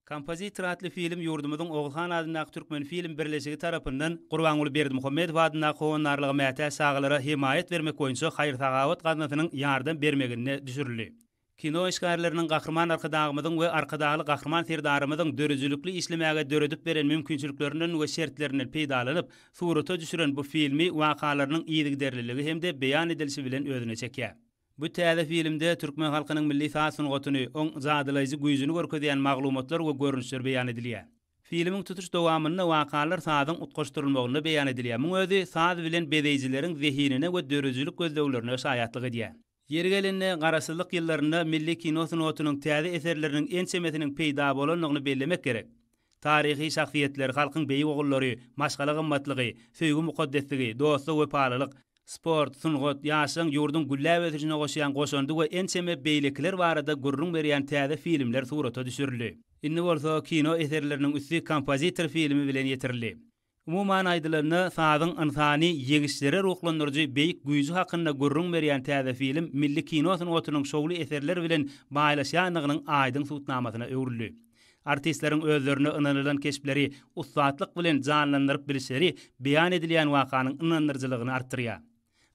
Kompozitor atly film ýurdumyzyň Oguzhan adyndaky Türkmenfilm birleşigi tarapyndan Gurbanguly Berdimuhamedow adyndaky Howandarlyga mätäç çagalara hemaýat bermek boýunça haýyr-sahawat gaznasynyň ýardam bermeginde düşürildi. Kino işgärleriniň Gahryman Arkadagymyzyň we Arkadagly Gahryman Serdarymyzyň döredijilikli işlemäge döredip beren mümkinçiliklerinden we şertlerinden peýdalanyp, surata düşüren bu filmi wakalarynyň yzygiderliligi hem-de beýan edilişi bilen özüne çekýär. Bu täze filmde türkmen halkynyň milli saz sungatyny, oň jadylaýjy güýjüni görkezýän maglumatlar we görnüşler beýan edilýär. Filmiň tutuş dowamynda wakalar sazyň utgaşdyrylmagynda beýan edilýär, muň özi saz bilen bezeýjileriň zehinine we döredijilik gözleglerine şaýatlyk edýär. Ýeri gelende, Garaşsyzlyk ýyllarynda milli kino sungatynyň täze eserleriniň ençemesiniň peýda bolandygyny bellemek gerek. Taryhy şahsyýetler, halkyň beýik ogullary, maşgala gymmatlygy, söýgi mukaddesligi, dosta wepalylyk, sport, sungat, ýaşlaryň ýurduň gülläp ösüşine goşýan goşandy we ençeme beýlekiler barada gürrüň berýän täze filmler surata düşürildi. Indi bolsa kino eserleriniň üsti kompozitor filmi bilen ýetirildi. Umuman aýdylanda, sazyň ynsany ýeňişlere ruhlandyryjy beýik güýji hakynda gürrüň berýän täze film milli kino sungatynyň şowly eserler bilen baýlaşýandygynyň aýdyň subutnamasyna öwrüldi. Artistleriň özlerine ynanylan keşpleri ussatlyk bilen janlandyryp bilişleri beýan edilýän wakanyň ynandyryjylygyny artdyrýar.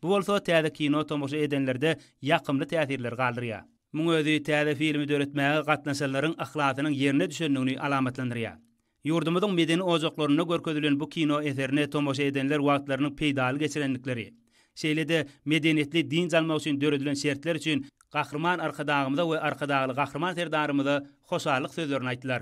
Bu bolsa täze kino tomaşa edenlerde ýakymly täsirler galdyrýar. Muň özi täze filmi döretmäge gatnaşanlaryň yhlasynyň ýerine düşendigini alamatlandyrýar. Ýurdumyzyň medeni ojaklarynda görkezilen bu kino eserine tomaşa edenler wagtlarynyň peýdaly geçirendikleri, şeýle-de medeniýetli dynç almak üçin döredilen şertler üçin Gahryman Arkadagymyza we Arkadagly Gahryman Serdarymyza hoşallyk sözlerini aýtdylar.